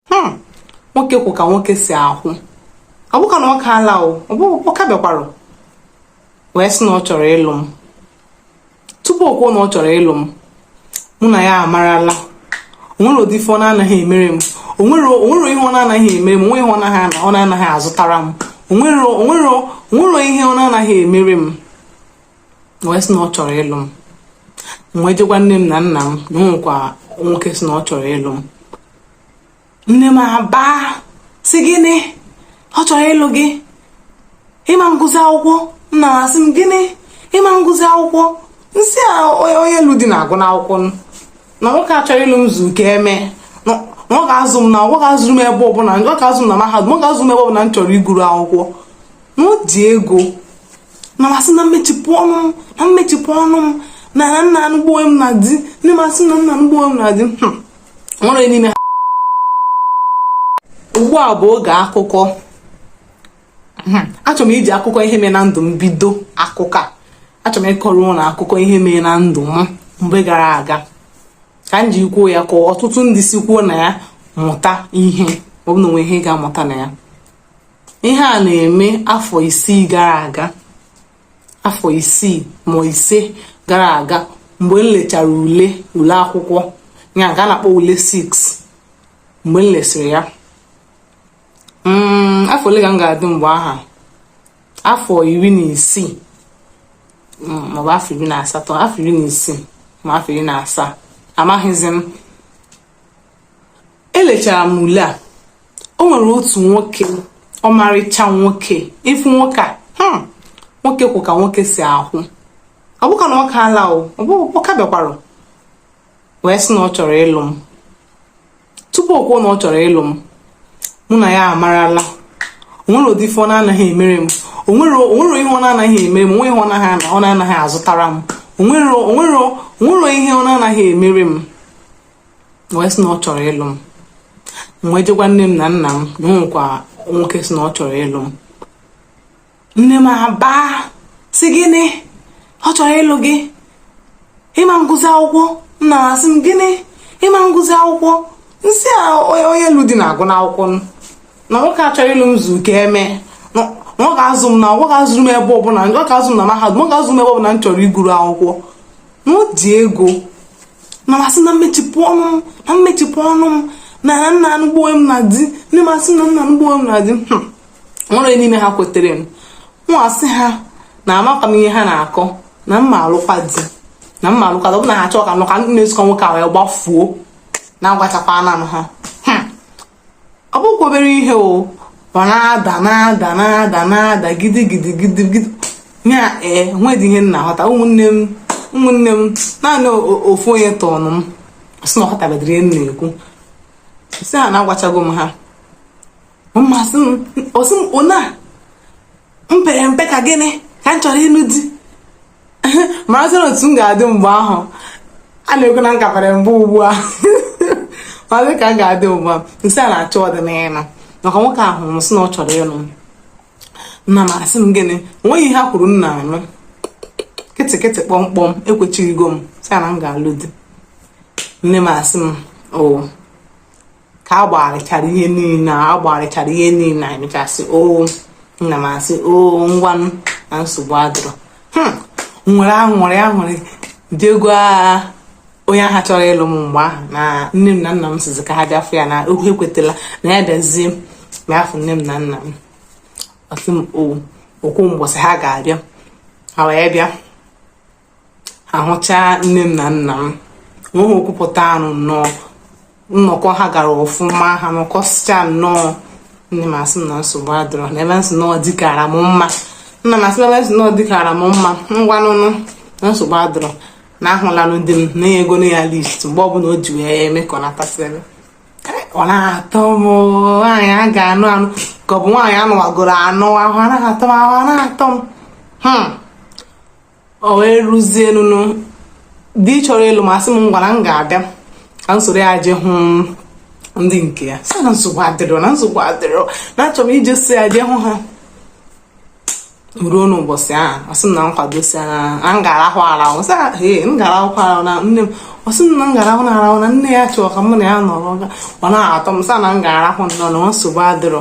hmm, nwoke kwụ ka nwoke si ahụ Ebuka nwoke ala o Ebuka bịakwara wee sị na ọ chọrọ ịlụ m tupu o kwuo na ọ chọrọ ịlụ m mụ na ya amarala onwere ụdị ife ọ na-anaghị emere m onwere ihe ọ na-anaghị emere m onwe ihe ọ na-anaghị azụtara m onwere ihe ọ na-anaghị emere m wee sị na ọ chọrọ ịlụ m m wee je gwa nne m na nna m na onwekwa nwoke sị na ọ chọrọ ịlụ m nne m abaa sị gịnị ọ chọrọ ịlụ gị ị ma-agụzi akwụkwọ nna m asị m gịnị ị ma-agụzi akwụkwọ m sị ha onye lụ di na-agụnụ akwụkwọ na nwoke a chọrọ ịlụ m zu ka emee na ọ ga-azụ m na ọ ga-azụrụ m ebe ọbụla ọ ga-azụ m na mahadum ọ ga-azụ m ebe ọbụla m chọrọ ịgụrụ akwụkwọ na o ji ego nna m asị na m mechipụ ọnụ m na m mechipụ ọnụ m na m na-anụgbu onwe m na di nne m asị na m na-anụgbu onwe m na di hmm. nwere n'ime ha ugbu a bụ oge akụkọ hmm. achọrọ m iji akụkọ ihe mere na ndụ m bido akụkọ a achọrọ m ịkọrọ unu akụkọ ihe mere na ndụ m mgbe gara aga ka m ji kwuo ya ka ọtụtụ ndị sikwu na ya mụta ihe ọ bụ na o nwe ihe a ga-amụta na ya ihe a na-eme afọ isii gara aga afọ isii ma ise gara aga mgbe m lechara ule ule akwụkwọ ya ka a na-akpọ ule 6 mgbe m lesịrị ya mm, afọ ole ka m ga-adị mgbe aha afọ iri na isii mm, maọbụ afọ iri na asatọ afọ iri na isii ma afọ iri na asaa amaghịzi m elechara m ule a o nwere otu nwoke ọmarịcha nwoke ị fụ nwoke a hmm, nwoke kwụ ka nwoke si ahụ Ebuka nwoke ala o Ebuka bịakwara wee sị na ọ chọrọ ịlụ m tupu o kwuo na ọ chọrọ ịlụ m mụ na ya amarala onwere ụdị ife ọ na-anaghị emere m onwere ihe ọ na-anaghị emere m onwe ihe ọ na-anaghị azụtara m onwere ihe ọ na-anaghị emere m wee sị na ọ chọrọ ịlụ m m wee je gwa nne m na nna m na o nwekwa nwoke sị na ọ chọrọ ịlụ m nne m abaa sị gịnị ọ chọrọ ịlụ gị ị ma-agụzi akwụkwọ nna m asị m gịnị ị ma-agụzi akwụkwọ m sị ha onye lụ di na-agụnụ akwụkwọ na nwoke a chọrọ ịlụ m zu ka emee na ọ ga-azụ m na ọ ga-azụrụ m ebe ọbụla ọ ga-azụ m na mahadum ọ ga-azụ m ebe ọbụla m chọrọ ịgụrụ akwụkwọ na o ji ego nna m asị m na m mechipụ ọnụ m na m mechipụ ọnụ m na m na-anụgbu onwe m na di nne m asị na m na-anụgbu onwe m na di hmm. nwere onye n'ime ha kwetere mụ nwa asị ha na amakwa m ihe ha na-akọ na m ma-alụkwa di na m ma-alụkwa ọ bụ na ha chọọ ka m nụ ka m na-esokọ nwoke a wee gbafuo na agwachakwanụ ha ọ bụkwa obere ihe o ọ na-ada na-ada na-ada na-ada gidi gidi gidi gidi ya ee nwedị ihe m na-aghọta ụmụnne m ụmụnne m naanị ofu onye tọọnụ m sị na ọ ghọtabedịrị ihe m na-ekwu sị ha na agwachago m ha nna m asị m ọ sị m o na m pere mpe ka gịnị ka m chọrọ ịnụ di marazị na otu m ga-adị mgbe ahụ a na-ekwu na m ka pere mpe ugbu a maazị ka m ga-adị ugbu a m sị a na-achọ ọdịnihu maka nwoke ahụ m sị na ọ chọrọ ịlụ m nna m asị m gịnị onweghị ihe ha kwuru m na-anụ kịtịkịtị kpọmkpọm ekwechigo m sị na m ga-alụ di nne m asị m o ka a gbagharịchara ihe niile a gbagharịchara ihe niile e mechasị o oh, nna m asị o oh, ngwanụ na nsogbu adịrọ hmm, m were aṅụrị aṅụrị je gwa onye ahụ chọrọ ịlụ m mgbe ahụ na nne m na nna m sịzị ka ha bịa fụ ya na ha ekwetela na ya bịazie bịa fụ nne m na nna m ọ sị m o kwuo mbọsị ha ga-abịa ha wee bịa a hụchaa nne m na nna m nweghị okwu pụtaranụ nnọọ nnọkọ ha gara ọfụma ha nọkọsịcha nnọọ nne m asị na nsogbu adịrọ na ebe m sị na ọ dịkara m mma nna m asị na ebe m sị na ọ dịkara m mma ngwanụnụ na nsogbu adịrọ na ahụlanụ di m na enyegonụ ya list mgbe ọbụla o ji wee eme ka ọ natasịrị ọ na-atọ m nwaanyị a ga-anụ anụ ka ọ bụ nwaanyị anụwagoro anụ ahụ anaghị atọ m ahụ anaghị atọ m hmm. o wee ruzienụ nụ di chọrọ ịlụ m asị m ngwa na m ga-abịa ka m soro ya je hụ ndị nke ya sị na nsogbu adịrọ na nsogbu adịrọ na achọ m ije so ya je hụ ha ruo n'ụbọchị ahụ ọ sị m na m kwado sị na m ga-arahụ arahụ sị ee m ga-arahụkwa arahụ na nne m ọ sị m na m ga-arahụ na arahụ na nne ya chọrọ ka mụ na ya nọrọ ọ na-atọ m sị na m ga-arahụ nnọọ na nsogbu adịrọ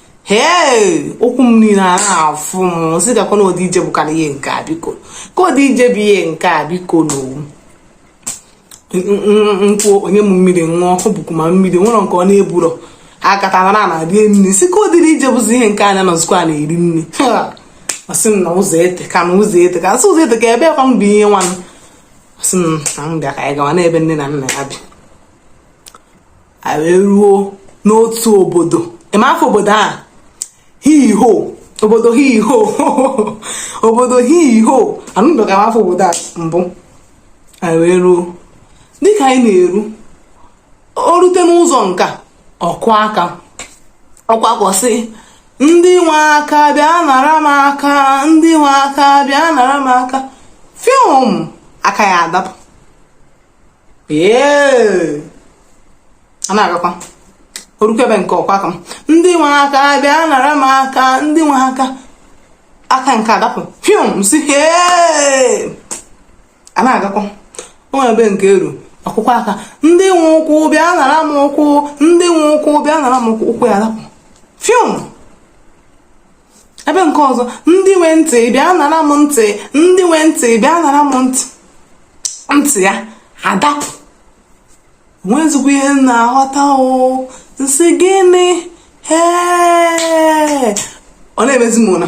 hee ụkwụ m niile ana-afụ m sị gakwa na ụdị ije bụkwa ihe nke a biko kee ụdị ije bụ ihe nke a biko n'owu nkwụ o nye m mmiri ṅụọ ọ bụkwa ma mmiri nwere nke ọ na-eburo akatara na na rie nri sị kee ụdịrị ije bụzi ihe nke anya nọzikwa a na-eri nri ọ sị m na ụzọ eteka na ụzọ eteka m sị ụzọ eteka ebekwanụ bụ ihe nwa ọ sị m na m bịa ka anyị gawa n'ebe nne na nna ya bi anyị wee ruo n'otu obodo ị ma afa obodo a hiho obodo hiho obodo hiho anụbeghị m afa obodo a mbụ anyị wee ruo dịka anyị na-eru o rute n'ụzọ nke a ọ kụọ aka ọ kwụsị ndị nwe aka bịa nara m aka ndị nwe aka bịa nara m aka fiom aka ya adapụ ee a na-agakwa o rukwa ebe nke ọkwa aka m ndị nwe aka bịa nara m aka ndị nwe aka aka nke adapụ fium si ee a na-agakwa o nwere ebe nke eru akwụkwọ aka ndị nwe ụkwụ bịa nara m ụkwụ ndị nwe ụkwụ bịa nara m ụkwụ ụkwụ ya adapụ fium ebe nke ọzọ ndị nwe ntị bịa nara m ntị ndị nwe ntị bịa nara m ntị ntị ya adapụ nwezikwa ihe na-aghọta o ị sị gịnị hee ọ na-emezi m ụra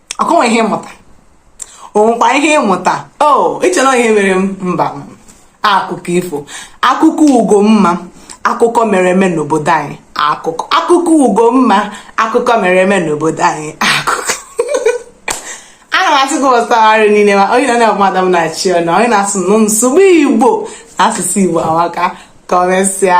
ọkwa o nwe ihe ị mụta o nwekwa ihe ị mụta o iche na ihe mere m mba akụkọ ifo akụkọ ugo mma akụkọ mere eme n'obodo anyị akụkọ akụkọ ugo mma akụkọ mere eme n'obodo anyị akụkọ ana m asị gị ọsagharị niile ma onye na mmadụ m na-achị ọnụ onye na-asụ nụ nsogbu igbo na asụsụ igbo amaka ka o mesịa